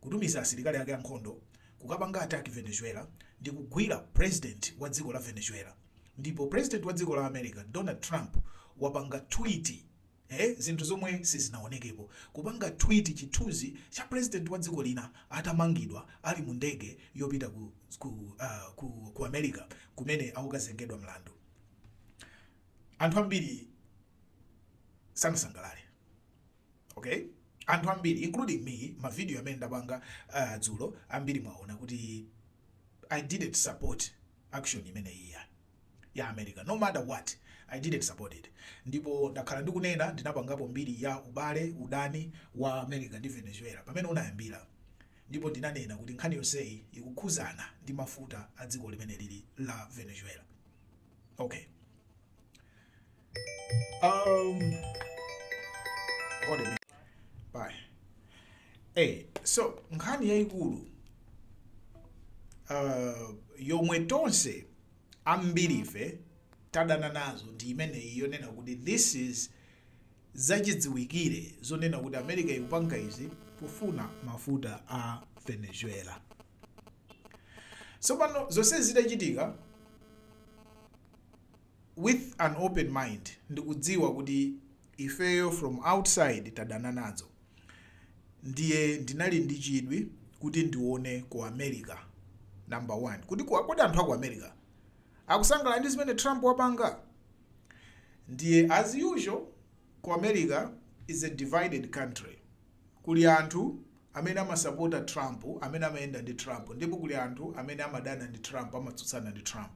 kutumiza asilikali ake ankhondo kukapanga attack Venezuela ndi kugwira president wa dziko la Venezuela ndipo president wa dziko la America Donald Trump wapanga tweet ee zinthu zomwe sizinaonekepo kupanga tweet chithunzi cha president wa dziko lina atamangidwa ali mu ndege yopita ku ku, uh, ku, ku America kumene akukazengedwa mlandu anthu ambiri sanasangalale okay anthu ambiri including me mavidiyo amene ndapanga uh, dzulo ambiri mwaona kuti i didn't support action imeneyi ya ya america no matter what i didn't support it ndipo ndakhala ndikunena ndinapangapo mbiri ya ubale udani wa america ndi venezuela pamene unayambira ndipo ndinanena kuti nkhani yonseyi ikukhuzana ndi mafuta a dziko limeneli la venezuela okay Um, hold a minute. Bye. Hey, so nkhani yayikulu uh, yomwe tonse ambirife tadana nazo ndi imeneyi yonena kuti this is zachidziwikire zonena kuti america ikupanga izi kufuna mafuta a venezuela tsopano zonse zitachitika with an open mind ndikudziwa kuti ifeyo from outside tadana nazo ndiye ndinali ndi chidwi kuti ndione ku America number one kuti kodi anthu aku America akusangalala ndi zimene Trump wapanga ndiye as usual ku America is a divided country kuli anthu amene amasapota Trump amene amayenda ndi Trump ndipo kuli anthu amene amadana ndi Trump amatsutsana ndi Trump.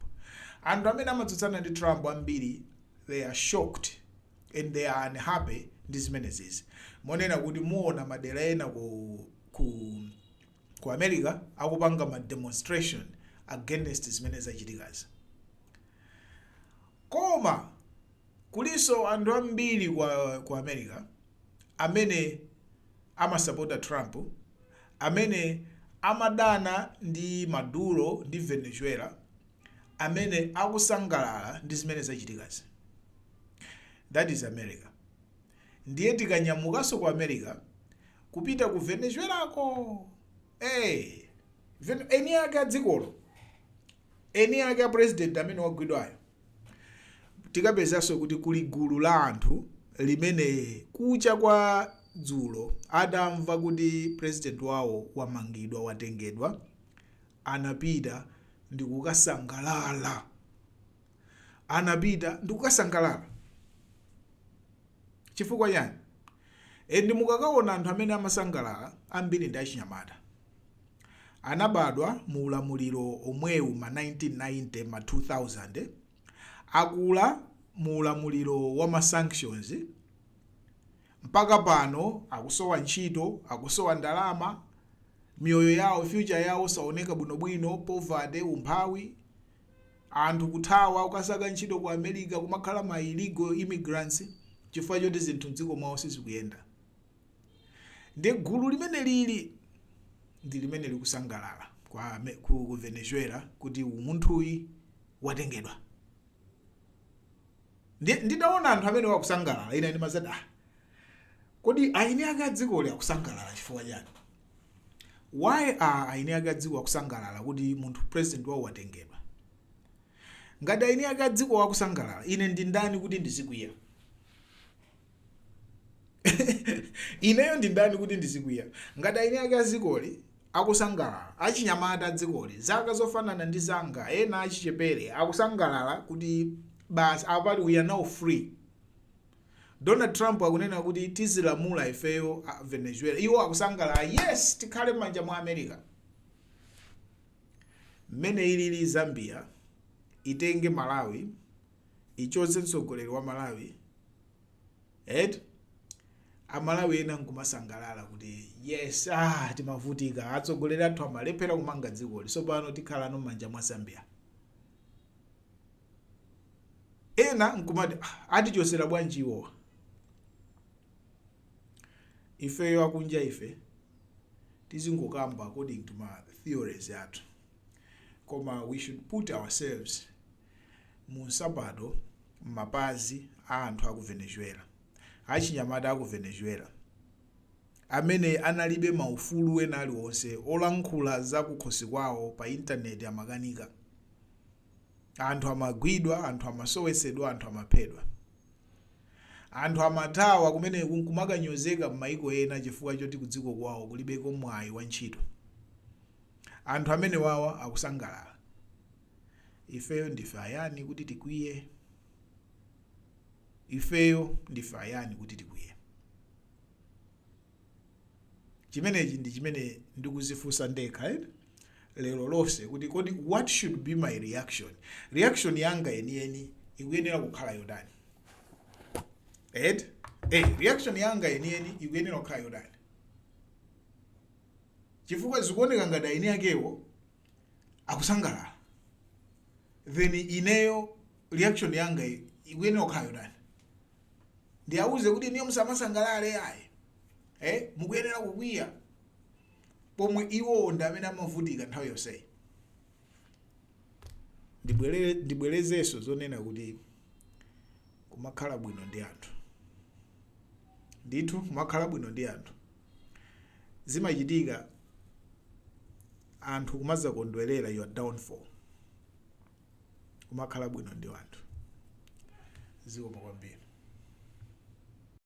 Anthu amene amatsutsana ndi Trump ambiri they are shocked and they are unhappy ndi zimenezizi monena kuti muona madera ena ku, ku, ku America akupanga ma demonstration against zimene zachitikazi koma Kulinso anthu ambiri ku America amene amasapota Trump amene amadana ndi Maduro ndi Venezuela amene akusangalala ndi zimene zachitikazi. That is America. Ndiye tikanyamukanso ku America kupita ku Venezuelako. Eh, Ven- eni ake a dzikolo eni ake a president amene wagwidwayo tikapezanso kuti kuli gulu la anthu limene kucha kwa dzulo atamva kuti president wawo wamangidwa watengedwa anapita ndikukasangalala anapita ndikukasangalala chifukwa chani and mukakaona anthu amene amasangalala ambiri ndi achinyamata anabadwa mu ulamuliro omwewu ma 1990 ma 2000 akula mu ulamuliro wa ma sanctions mpaka pano akusowa ntchito akusowa ndalama miyoyo yawo future yawo saoneka bwinobwino poverty umphawi anthu kuthawa kukasaka ntchito ku america kumakhala ma illegal immigrants chifukwa choti zinthu mdziko mwawo sizikuyenda ndi gulu limene lili ndi limene likusangalala kwa ame- ku ku venezuela kuti munthuyi watengedwa Ndi- nditaona anthu amenewa akusangalala ine ndimazati ah kodi aini ake adzikoli akusangalala chifukwa chani why are aini ake adziko akusangalala kuti munthu president wawo watengedwa ngati aini ake adziko akusangalala ine ndi ndani kuti ndizikwiya ineyo ndi ndani kuti ndizikwiya ngati aini ake a dzikoli akusangalala? Achinyamata a dzikoli, zaka zofanana ndi zanga, ena achichepere, akusangalala kuti basi apa ati we are now free. Donald Trump akunena kuti tizilamula ifeyo a Venezuela, iwo akusangalala yes, tikhale m'manja mwa America. Mmene ilili Zambia itenge Malawi ichotse mtsogoleri wa Malawi eti amalawi ena nkumasangalala kuti yes ah, timavutika atsogoleri athu amalephera kumanga dzikoli tsopano tikhala no m'manja mwa zambia ena nkumati "Ah, atichosera bwanji iwowa ifeyo akunja ife tizingokamba according to ma theories athu koma we should put ourselves mu nsapato, m'mapazi a anthu aku Venezuela, achinyamata aku Venezuela amene analibe ma ufulu wena aliwonse olankhula za kukhosi kwawo pa internet amakanika, anthu amagwidwa, anthu amasowetsedwa, anthu amaphedwa. Anthu amathawa kumene kumakanyozeka m'maiko ena chifukwa choti kudziko kwawo kulibeko mwayi wa ntchito. Anthu amenewawa akusangalala, ifeyo ndife ayani kuti tikwiye? Ifeyo ndife ayani kuti tikwiye? Chimenechi ndi chimene ndikuzifunsa ndekha eh? lero lonse kuti kodi what should be my reaction reaction yanga yeniyeni ikuyenera kukhala yotani eh, reaction yanga yeniyeni ikuyenera kukhala yotani chifukwa zikuoneka ngati aini akewo akusangalala then ineyo reaction yanga ikuyenera kukhala yotani ndiwauze kuti inuyo musamasangalale ayi eh mukuyenera kukwiya pomwe iwowo ndi amene amavutika nthawi yonseyi ndibwere ndibwerezenso zonena kuti kumakhala bwino ndi anthu ndithu kumakhala bwino ndi anthu zimachitika anthu kumazakondwerera your downfall kumakhala bwino ndi anthu zikomo kwambiri